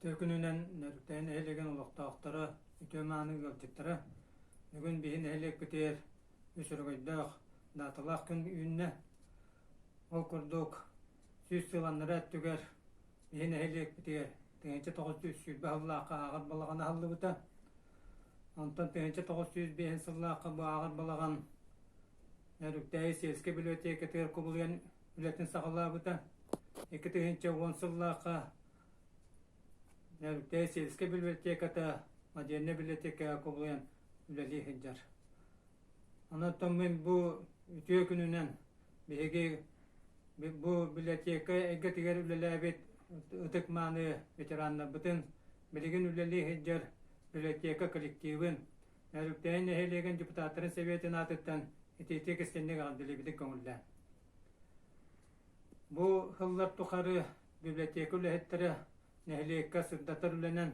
Тыа күнүнэн нөрүктээн нэһилиэгин олохтоохторо, үтүө-мааны ыалдьыттара, бүгүн биһи нэһилиэкпитигэр үс өрөгөйдөөх, дааталаах күн үүннэ. Ол курдук, сүүс сыл аннара өттүгэр биһи нэһилиэкпитигэр тыһыынча тоҕус сүүс сүүрбэ сыллаахха ааҕар балаҕан аһыллыбыта. Онтон тыһыынча тоҕус сүүс биэһин сыллаахха бу ааҕар балаҕан Нөрүктээйи сельскэй библиотекатыгар кубулуйан үлэтин саҕалаабыта. Икки тыһыынча уон сыллаахха Нэрүтэй сельскэй библиотеката, модельнай библиотекаҕа кубулуйан үлэлии сылдьар. Онон мин бу үтүө күнүнэн биһиги бу библиотека эйгэтигэр үлэлээбит ытык мааны ветераннарбытын билигин үлэлии сылдьар библиотека коллективын Өрүктээн нэһилиэгин депутаттарын сэбиэтин аатыттан итиитик истинник аҕалдилибитик көҥүллээн. Бу хыллар тухары библиотека үлэһиттэрэ нэһилиэккэ сырдатар үлэнэн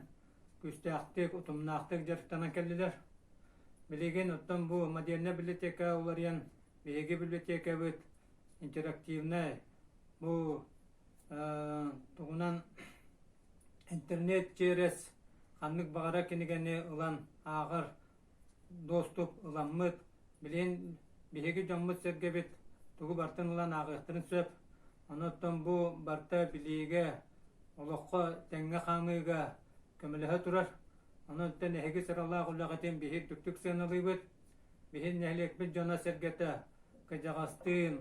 күстээхтик, утумнаахтык дьарыктанан кэллилэр. Билигин оттон бу модельная библиотека уларыйан биһиги библиотекабыт интерактивнай бу э, тугунан Интернет ЧРС ханнык баҕара кинигэни ылан ааҕар дуостук ыламмыт, билигин биһиги дьоммут-сэргэбит тугу бартын ылан ааҕыахтарын сөп. Онуоттан бу барыта билиигэ, олоххо тэҥҥэ хаамыыга көмөлөһө турар. Онуоттан эһиги сыралаах үлэҕитин биһиги үрдүктүк сыаналыыбыт. Биһиги нэһилиэкпит дьоно-сэргэтэ кыдьаҕастыын,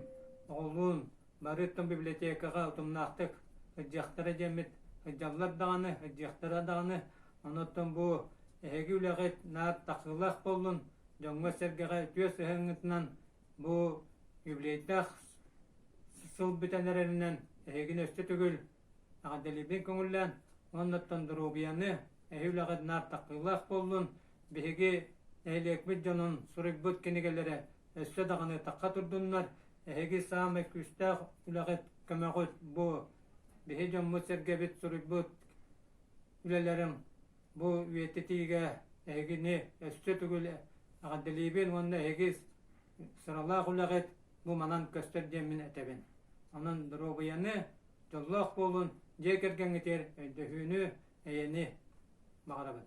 оҕолуун Барыттан библиотекаҕа утумнаахтык сылдьыахтара диэммит, сылдьаллар даҕаны, сылдьыахтара даҕаны, онон бу эһиги үлэҕит наар тахсыылаах буоллун, дьоҥҥо-сэргэҕэ үтүө сыһыаҥҥытынан бу юбилейдаах сыл бүтэн эрэринэн эһигини өссө төгүл Эҕэрдэлиибин көҥүллээн уоннаттан доруобуйаны, эһи үлэҕит наартахтыылаах буоллун, биһиги нэһилиэкпит дьонун суруйбут кинигэлэрэ өссө даҕаны тахха турдуннар, эһиги саамай күүстээх үлэҕит, көмөҕүт бу биһи дьоммут-сэргэбит суруйбут үлэлэрин бу үйэтитиигэ эһигини өссө төгүл эҕэрдэлиибин уонна эһиги сыралаах үлэҕит бу манан көстөр диэммин этэбин. Онон доруобуйаны, дьоллоох буолун, дьиэ кэргэҥҥитигэр өйдөһүүнү, эйэни баҕарабын.